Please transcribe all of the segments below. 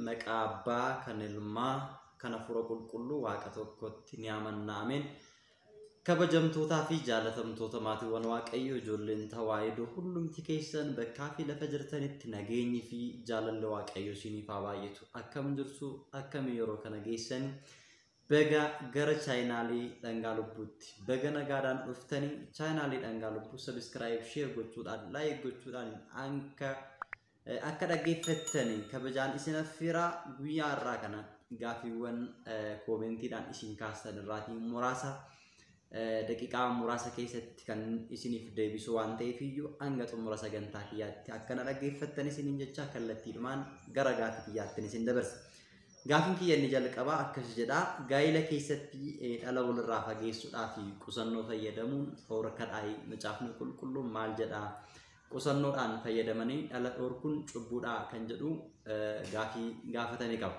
maqaa abbaa kan ilmaa kan hafuura qulqulluu waaqa tokkotti ni amanna ameen kabajamtootaa fi jaalatamtoota maatiiwwan waaqayyoo ijoolleen tawaahidoo hundumti keessan bakkaa fi lafa jirtanitti nageenyi fi jaalalli waaqayyoo isiniif haa baay'atu akkam jirtu akkami yeroo kana geessan Baga gara chaayinaalii dhangaa lubbuutti baga nagaadhaan dhuftanii chaayinaalii dhangaa lubbuu sabiskiraayib sheer gochuudhaan laayik gochuudhaan anka akka dhaggeeffattanii kabajaan isin affeeraa guyyaa irraa kana gaafiiwwan koomentiidhaan isin kaastan irraatii muraasa daqiqaa muraasa keessatti kan isiniif deebisu waan ta'eef iyyuu hanga xumura sagantaa kiyyaatti akka na dhaggeeffattan isiniin jecha kallattiidhumaan gara gaafii kiyyaattin isin dabarsa. Gaafiin kiyya inni jalqabaa akkas jedha. Gaa'ila keessatti eh, dhala walirraa fageessuudhaa fi qusannoo fayyadamuun dhorkadhaayi. Macaafni qulqulluun maal jedha? Qusannoodhaan fayyadamanii dhala dhorkuun cubbuudhaa kan jedhu eh, gaafii gaafatame qaba.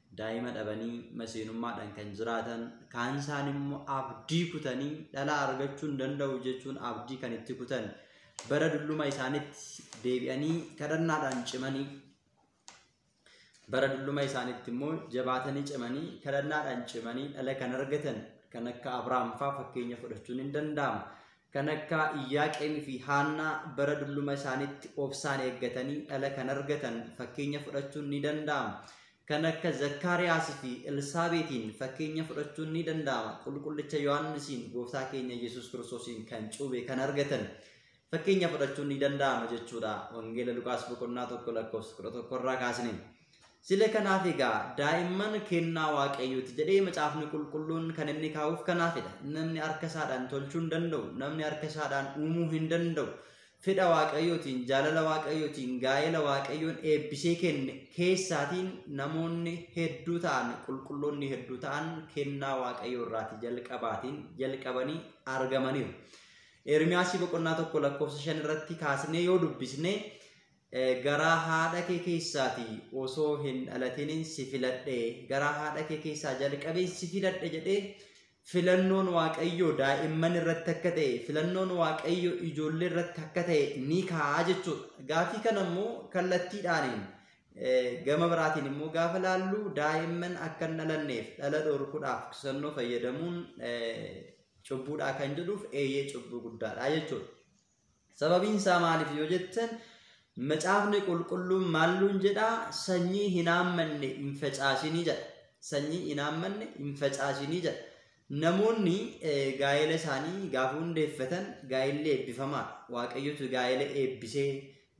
Daa'ima dhabanii maseenummaadhaan kan jiraatan, kaan isaaniimmoo abdii kutanii dhala argachuu hin danda'u jechuun abdii kan itti kutan, bara dulluma isaanitti deebi'anii kadhannaadhaan cimanii bara dulluma isaanitti immoo jabaatanii cimanii kadhannaadhaan cimanii dhala kan argatan kan akka Abrahaam fa'aa fakkeenya fudhachuun hin danda'amu. Kan akka Iyyaaqeemii fi Haannaa bara dulluma isaaniitti obsaan eeggatanii dhala kan argatan fakkeenya fudhachuun ni danda'ama. Kan akka Zakkaariyaas fi Elsaabeetiin fakkeenya fudhachuun ni danda'ama. Qulqullicha Yohaannisiin Gooftaa keenya Yesuus Kiristoosiin kan cuube kan argatan fakkeenya fudhachuun ni danda'ama jechuudha. Wangeela Luqaas boqonnaa 1 lakkoofsa 11 irraa kaasne. Sile kanaaf egaa daa'imman kennaa Waaqayyooti jedhee macaafni qulqulluun kan inni kaa'uuf kanaafidha. Namni harka isaadhaan tolchuu hin danda'u, namni harka isaadhaan uumuu hin danda'u. Fedha Waaqayyootiin, jaalala Waaqayyootiin, gaa'ela Waaqayyoon eebbisee kenne keessaatiin namoonni hedduu ta'an, qulqulloonni hedduu ta'an kennaa Waaqayyoo irraati jalqabaatiin jalqabanii argamaniiru. Ermiyaasii boqonnaa tokko lakkoofsa shan irratti kaasnee yoo dubbisne Garaa haadha kee keessaati osoo hin dhalatinin si filadhe, garaa haadha kee keessaa jalqabeen si filadhe jedhee filannoon Waaqayyoo daa'imman irratti akka ta'e, filannoon Waaqayyo ijoollee irratti akka ta'e ni kaa'a jechuudha. Gaafii kana immoo kallattiidhaaniin gama biraatiin immoo gaafa laallu daa'imman akka hin dhalanneef dhala dhorkuudhaaf qusannoo fayyadamuun cubbuudhaa kan jedhuuf eeyyee cubbuu guddaadha jechuudha. Sababiin isaa maaliif yoo jettan macaafni qulqulluun maalluun jedhaa sanyii hin haammanne hin facaasinii jedha. Sanyii hin haammanne hin facaasinii jedha. Namoonni gaa'ela isaanii gaafa hundeeffatan gaa'elli eebbifamaadha. Waaqayyotu gaa'ela eebbisee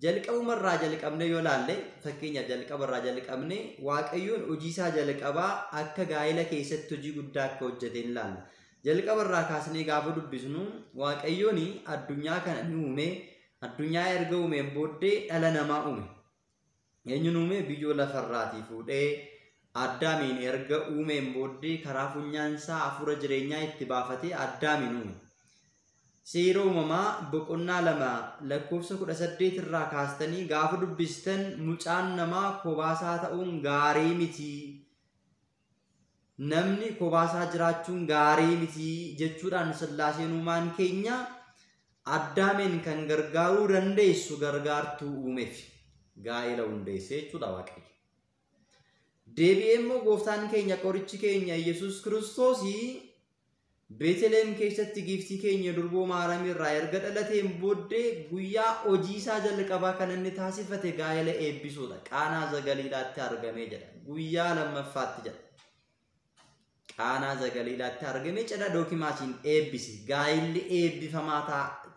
jalqabuma irraa jalqabnee yoo laalle fakkeenyaaf jalqaba irraa jalqabnee waaqayyoon hojii isaa jalqabaa akka gaa'ela keessatti hojii guddaa akka hojjete hin laalla. Jalqaba irraa kaasnee gaafa dubbisnu Waaqayyoon addunyaa kana ni uume, addunyaa erga uumeen booddee dhala namaa uume. Eenyuun uume? Biyyoo lafarraatii fuudhee Addaamiin erga uumeen booddee karaa funyaan isaa hafuura jireenyaa itti baafatee Addaamiin uume. Seera uumamaa boqonnaa lama lakkoofsa kudha saddeet irraa kaastanii gaafa dubbistan mucaan namaa kobaasaa ta'uun gaarii miti namni kopaasaa jiraachuun gaarii miti jechuudhaan sillaaseen uumaan keenya addaameen kan gargaaruu dandeessu gargaartuu uumeef gaa'ela hundeessee jechuudha waaqayyo. Deebi'ee immoo gooftaan keenya qorichi keenya Yesuus Kiristoos Beeteliheem keessatti giiftii keenya durboo Maariyaam irraa erga dhalateen booddee guyyaa hojii isaa jalqabaa kan inni taasifate gaa'ela eebbisuudha. Qaanaa Zagaliilaatti argamee jedha. Guyyaa lammaffaatti jedha. Qaanaa Zagaliilaatti argamee cidha dookimaasiin eebbise. Gaa'illi eebbifamaa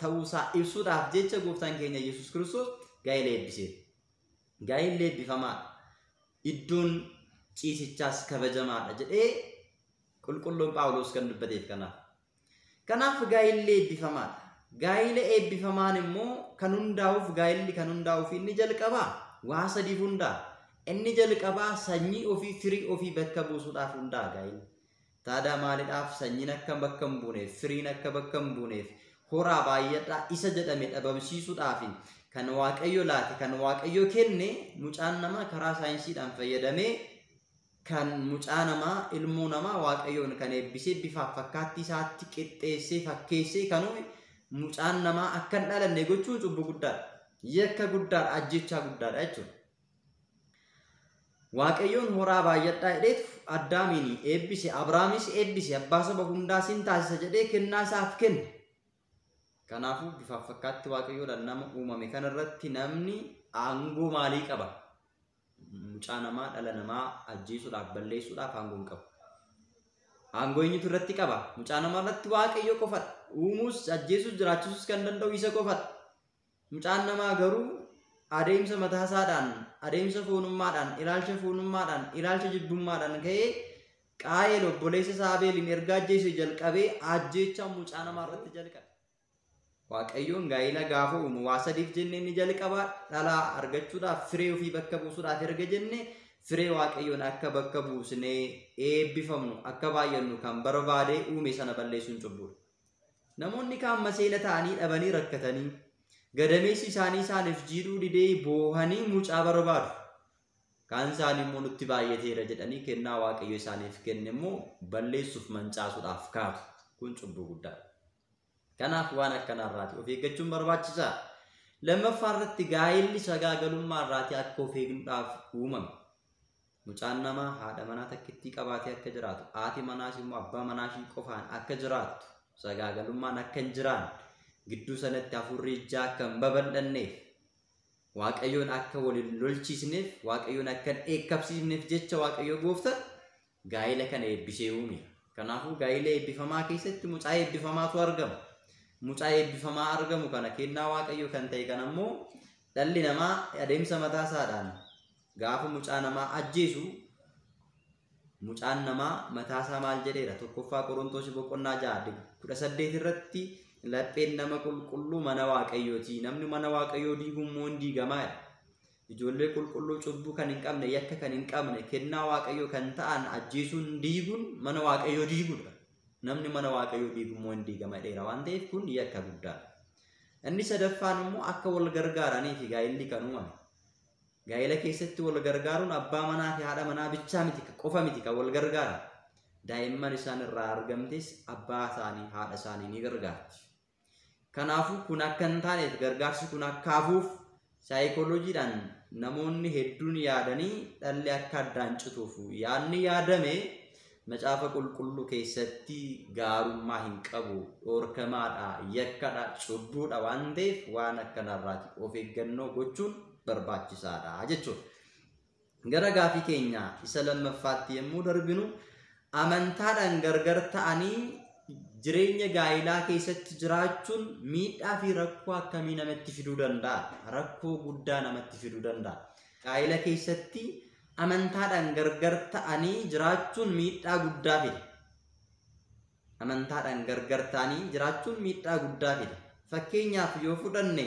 ta'uusaa ibsuudhaaf jecha gooftaan keenya Yesuus Kiristoos gaa'ila eebbise. Gaa'illi eebbifamaadha. Iddoon ciisichaas kabajamaadha jedhee Qulqulluun Phaawulos kan dubbateef kanaaf. Kanaaf gaa'illi eebbifamaadha. Gaa'ila eebbifamaan immoo kan hundaa'uuf gaa'illi kan hundaa'uuf inni jalqabaa waa sadiif hundaa'a. Inni jalqabaa sanyii ofii firii ofii bakka buusuudhaaf hundaa'a gaa'illi. Taadaa maalidhaaf sanyiin akka bakka hin buuneef firiin akka bakka hin buuneef horaa baay'adhaa isa jedhame dhabamsiisuudhaaf kan waaqayyo laate kan waaqayyo kenne mucaan namaa karaa saayinsiidhaan fayyadamee kan mucaa namaa, ilmoo namaa Waaqayyoon kan eebbisee bifaaf fakkaattii isaatti qixxeessee fakkeessee kan uume mucaan namaa akka hin dhalanne gochuun cubbuu guddaadha. Yakka guddaadha, ajjechaa guddaadha jechuudha. Waaqayyoon horaa baay'adhaa jedheetu Addaamiin eebbise, Abraamis eebbise, abbaa saba hundaa sin taasisa jedhee kennaa isaaf kenne. Kanaafuu bifaaf fakkaatti Waaqayyoodhaan nama uumame kanarratti namni aangoo maalii qaba? mucaa namaa dhala namaa ajjeesuudhaaf balleessuudhaaf aangoo hin qabu. Aangoo eenyutu irratti qaba? Mucaa namaa irratti waaqayyo qofadha. Uumuus ajjeesuus jiraachisuus kan danda'u isa qofadha. Mucaan namaa garuu adeemsa mataasaadhaan, adeemsa foonummaadhaan, ilaalcha foonummaadhaan, ilaalcha jibbummaadhaan ka'ee qaa'eel obboleessa isaa Abeeliin erga ajjeese jalqabee ajjeechaa mucaa namaa irratti jalqabe. Waaqayyoon gaa'ila gaafa uumu waa sadiif jennee inni jalqabaa dhalaa argachuudhaaf firee ofii bakka buusuudhaaf erga jenne firee waaqayyoon akka bakka buusnee eebbifamnu akka baay'annu kan barbaade uume sana balleessuun cubbuudha. Namoonni kaan maseena ta'anii dhabanii rakkatanii gadameessi isaanii isaaniif jiidhuu didee boohanii mucaa barbaadu. Kaan isaanii immoo nutti baay'ateera jedhanii kennaa waaqayyo isaaniif kenne immoo balleessuuf mancaasuudhaaf kaatu. Kun cubbuu guddaadha. Kanaaf waan akkanaa irraati of eeggachuun barbaachisa. Lammaffaa irratti gaa'elli sagaagalummaa irraati akka of eegnuudhaaf uumame. Mucaan namaa haadha manaa takkittii qabaatee akka jiraatu, haati manaas immoo abbaa manaa ishii qofaan akka jiraattu, sagaagalummaan akka hin jiraanne, gidduu sanatti hafuurri ijaa akka hin babal'anneef, Waaqayyoon akka wal hin lolchiisneef, Waaqayyoon akka hin dheekkabsiifneef jecha Waaqayyo gooftan gaa'ila kana eebbisee uume. Kanaafuu gaa'ila eebbifamaa keessatti mucaa eebbifamaatu argama. Mucaa eebbifamaa argamu kana kennaa waaqayyoo kan ta'e kana immoo dhalli namaa adeemsa mataa isaadhaan gaafa mucaa namaa ajjeesu mucaan namaa mataa isaa maal jedheera tokkoffaa qorontoos boqonnaa ja'a kudha saddeet irratti lapheen nama qulqulluu mana waaqayyooti namni mana waaqayyoo diigu immoo hin diigamaa jedha. Ijoollee qulqulluu cubbuu kan hin qabne, yakka kan hin qabne, kennaa Waaqayyoo kan ta'an ajjeesuun diiguun mana Waaqayyoo diiguudha. Namni mana Waaqayyoo diigu immoo hin diigama jedheera waan ta'eef kun yakka guddaadha. Inni sadaffaan immoo akka wal gargaaranii fi gaa'illi kan uumame. Gaa'ila keessatti wal gargaaruun abbaa manaa fi haadha manaa bichaa miti qofa miti kan wal gargaaran. Daa'imman isaan irraa argamtes abbaa isaanii haadha isaanii ni gargaarti. Kanaafuu kun akka hin taaneef gargaarsi kun akka hafuuf saayikooloojiidhaan namoonni hedduun yaadanii dhalli akka addaan cituuf yaadni yaadame macaafa qulqulluu keessatti gaarummaa hin qabu dhoorkamaadha yakkadha cubbuudha waan ta'eef waan akkanarraati of eeggannoo gochuun barbaachisaadha jechuudha. Gara gaafii keenya isa lammaffaatti yommuu darbinu, amantaadhaan gargar ta'anii jireenya gaa'ilaa keessatti jiraachuun miidhaa fi rakkoo akkamii namatti fiduu danda'a? Rakkoo guddaa namatti fiduu danda'a. Gaa'ila keessatti amantaadhaan gargar ta'anii jiraachuun miidhaa guddaa fida. Amantaadhaan gargar ta'anii jiraachuun miidhaa guddaa fida. Fakkeenyaaf yoo fudhanne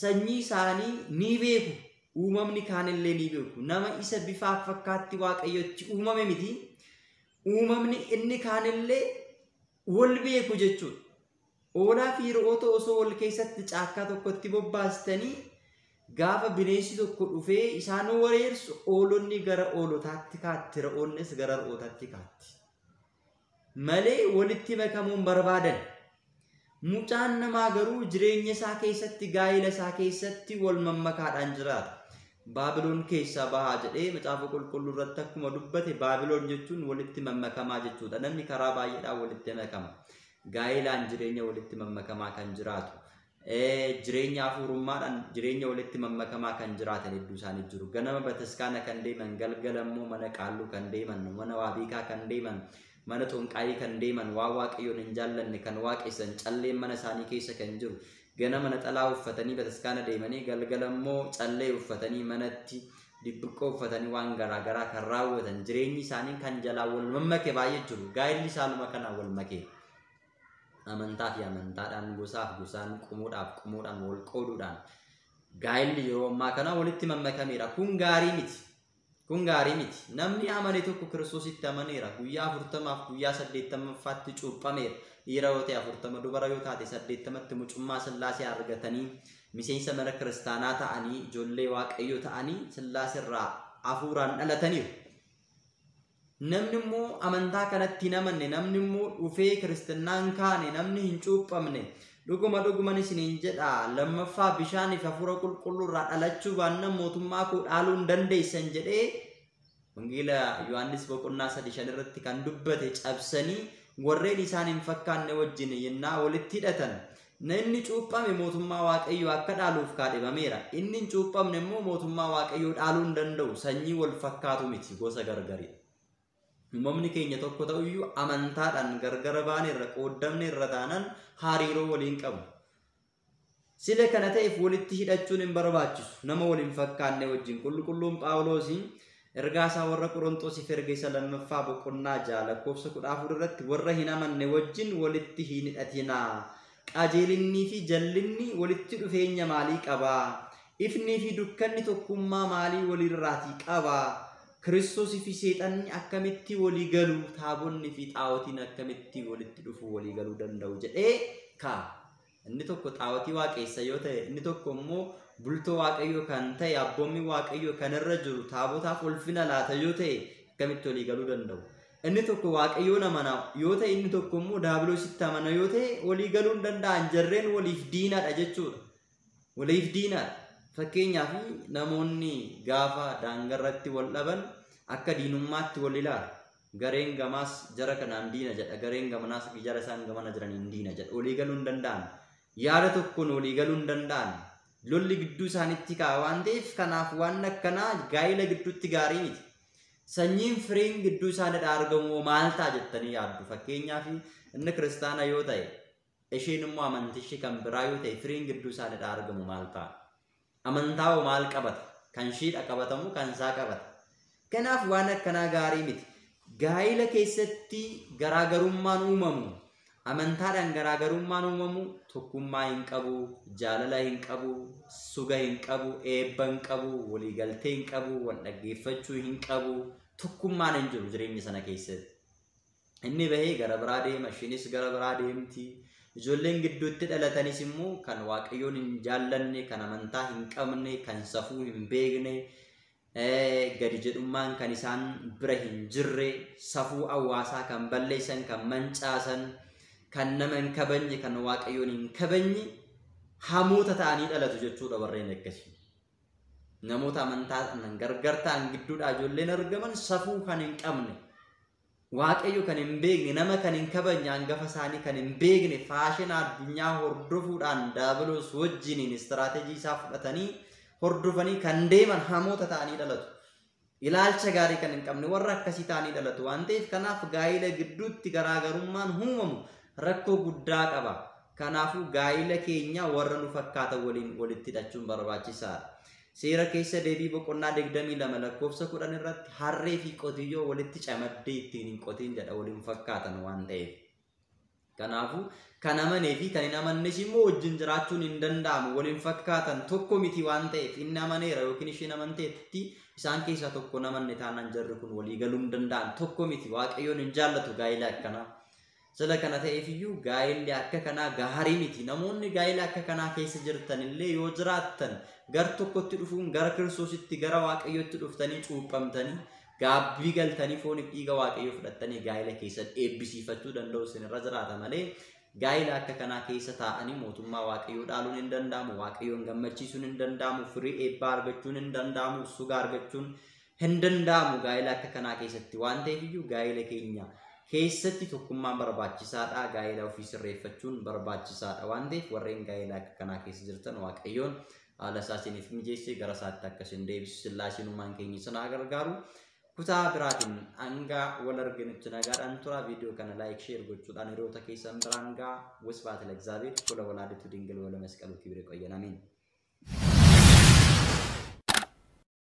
sanyii isaanii ni beeku, uumamni kaan illee ni beeku. Nama isa bifaaf fakkaatti Waaqayyotti uumame miti. Uumamni inni kaan illee wal beeku jechuudha. Hoolaa fi re'oota osoo wal keessatti caakkaa tokkotti bobbaastanii gaafa bineensi tokko dhufee isaan wareersu hoolonni gara hoolotaatti kaatti, re'oonnis gara re'ootaatti kaatti. malee walitti makamuu hin barbaadan. Mucaan namaa garuu jireenya isaa keessatti gaa'ila isaa keessatti wal mammakaadhaan jiraata. Baabiloon keessaa bahaa jedhee macaafa qulqulluu irratti akkuma dubbate Baabiloon jechuun walitti mammakamaa jechuudha. Namni karaa baay'eedhaan walitti makama. Gaa'elaan jireenya walitti mammakamaa kan jiraatu. jireenya hafuurummaadhaan jireenya walitti mammakamaa kan jiraatan hedduu isaanii jiru. Ganama bataskaana kan deeman, galgala immoo mana qaalluu kan deeman, mana waabeekaa kan deeman, mana xonqaayii kan deeman, waa waaqayyoon hin jaallanne kan waaqessan, calleen mana isaanii keessa kan jiru. Ganama naxalaa uffatanii bataskaana deemanii galgala immoo callee uffatanii manatti dibbiqqoo uffatanii waan garaa garaa kan raawwatan jireenyi isaanii kan jalaa wal mammake baay'ee jiru. Gaa'illi isaanuma kanaan wal makee. amantaa fi amantaadhaan, gosaaf gosaan, qomoodhaaf qomoodhaan wal qooduudhaan gaa'elli yeroo ammaa kana walitti mammakameera. Kun gaarii miti. Kun gaarii miti. Namni amane tokko Kiristoositti amaneera. Guyyaa afurtamaaf guyyaa saddeettamaffaatti cuuphameera. Dhiira yoo ta'e afurtama, dubara yoo taate saddeettamatti mucummaa sillaasee argatanii miseensa mana kiristaanaa ta'anii ijoollee waaqayyoo ta'anii sillaaserraa hafuuraan dhalataniiru. Namni immoo amantaa kanatti hin amanne, namni immoo dhufee kiristinnaa hin kaane, namni hin cuuphamne, dhuguma dhuguman isiniin jedha, lammaffaa bishaanii fi hafuura qulqulluu irraa dhalachuu baannan mootummaa koo dhaaluu hin dandeessan jedhee Wangeela Yohaannis boqonnaa sadii shan irratti kan dubbate cabsanii warreen isaan hin fakkaanne wajjin yennaa walitti hidhatan Namni cuuphame mootummaa Waaqayyoo akka dhaaluuf kaadhimameera. Inni hin cuuphamne immoo mootummaa Waaqayyoo dhaaluu hin danda'u. Sanyii wal fakkaatu miti, gosa gargari. Uumamni keenya tokko ta'uyyuu amantaadhaan gargara baane irra qooddamne irra taanaan hariiroo waliin qabu. Sile kana ta'eef walitti hidhachuun hin barbaachisu. Nama wal hin fakkaanne wajjin qulqulluun Phaawuloosiin Ergaa isaa warra Qoronxosiif erge isa lammaffaa boqonnaa 6 lakkoofsa 14 irratti warra hin amanne wajjin walitti hin hidhatinaa. Qajeelinnii fi jallinni walitti dhufeenya maalii qaba? Ifnii fi dukkanni tokkummaa maalii waliirraatii qaba? Kiristoosii fi seexanni akkamitti walii galu? Taabonni fi xaawotiin akkamitti walitti dhufuu walii galuu danda'u jedhee kaa'a. Inni tokko xaawotii waaqeessa yoo ta'e, inni tokko immoo bultoo waaqayyoo kan ta'e abboommi waaqayyoo kan irra jiru taabotaaf ulfina laata yoo ta'e akkamitti walii galuu danda'u? Inni tokko waaqayyoon amana yoo ta'e, inni tokko immoo daabiloositti amana yoo ta'e walii galuu hin danda'an jarreen waliif diinadha jechuudha. Waliif diinadha. Fakkeenyaaf namoonni gaafa daangarratti wal dhaban akka diinummaatti wal ilaalu. Gareen gamaas jara kanaan diina jedha, gareen gamanaas jara isaan gamana jiraniin diina jedha. Walii galuu hin danda'an. Yaada tokkoon walii galuu hin danda'an. Lolli gidduu isaanitti ka'a waan ta'eef kanaaf waan akkanaa gaa'ila gidduutti gaarii miti. Sanyiin firiin gidduu isaaniirraa argamu maal ta'a jettanii yaaddu? Fakkeenyaaf inni kiristaana yoo ta'e Isheen immoo amantishi kan biraa yoo ta'e firiin gidduu isaanidhaa argamu maal ta'a? Amantaa hoo maal qabata? Kan shiidha qabatamu kan isaa qabata. Kanaaf waan akkanaa gaarii miti. Gaa'ila keessatti garaagarummaan uumamu amantaadhaan garaagarummaan uumamu tokkummaa hin qabu, jaalala hin qabu, suga hin qabu, eebba hin qabu, waliigaltee hin qabu, wal dhaggeeffachuu hin qabu, tokkummaan hin jiru jireenya sana keessatti. Inni bahee gara biraa deema, ishiinis gara biraa deemti. Ijoolleen gidduutti dhalatanis immoo kan Waaqayyoon hin jaallanne, kan amantaa hin qabne, kan safuu hin beekne, gadi jedhummaan kan isaan bira hin jirre, safuu hawaasaa kan balleessan, kan mancaasan, kan nama hin kabajne, kan Waaqayyoon hin kabajne hamoota ta'anii dhalatu jechuudha warreen akkasii. Namoota amantaa gargar ta'an gidduudhaa ijoolleen argaman safuu kan hin qabne, Waaqayyo kan hin beekne, nama kan hin kabajne, angafa isaanii kan hin beekne, faashina addunyaa hordofuudhaan daabiloos wajjiniin istiraateejii isaa fudhatanii hordofanii kan deeman hamoota ta'anii dhalatu. Ilaalcha gaarii kan hin qabne warra akkasii ta'anii dhalatu waan ta'eef kanaaf gaa'ila gidduutti garaagarummaan uumamu rakkoo guddaa qaba. Kanaafuu gaa'ila keenya warra nu fakkaatan waliin walitti hidhachuun barbaachisaadha. Seera Keessa Deebii boqonnaa 22 lakkoofsa 10 irratti harree fi qotiyyoo walitti camaddee ittiin hin qotiin jedha wal hin fakkaatan waan ta'eef. Kanaafuu kan amanee fi kan hin amannes immoo wajjin jiraachuun hin danda'amu wal hin fakkaatan tokko miti waan ta'eef inni amaneera yookiin isheen amanteetti isaan keessaa tokko hin amanne taanaan jarri kun walii galuu hin danda'an tokko miti waaqayyoon hin jaallatu gaa'ila akkanaa. Sila kana ta'eef iyyuu gaa'elli akka kanaa gaarii miti. Namoonni gaa'ela akka kanaa keessa jirtan illee yoo jiraattan gar tokkotti dhufuun gara Kiristoositti gara Waaqayyootti dhuftanii cuuphamtanii gaabbii galtanii fooniif dhiiga Waaqayyoo fudhattanii gaa'ela keessan eebbisiifachuu danda'u isinirra jiraata malee gaa'ela akka kanaa keessa taa'anii mootummaa Waaqayyoo dhaaluun hin danda'amu, Waaqayyoon gammachiisuun hin danda'amu, firii eebbaa argachuun hin danda'amu, suga argachuun Hin danda'amu gaa'ela akka kanaa keessatti waan ta'eef iyyuu gaa'ela keenya keessatti tokkummaan barbaachisaadha. Gaa'ela ofii sirreeffachuun barbaachisaadha waan ta'eef warreen gaa'ela akka kanaa keessa jirtan Waaqayyoon haala isaa isiniif mijeessee gara isaatti akka isin deebisu sillaaseen uumaan keenya isin haa gargaaru. Kutaa biraatiin hanga wal arginutti nagaadhaan tura. Viidiyoo kana laayik sheer gochuudhaan hiriyoota keessan biraan ga'a. Wasbaata Lagzaabeer fuula walaaditu dingil wala masqaluu kibire qoyyan amiin.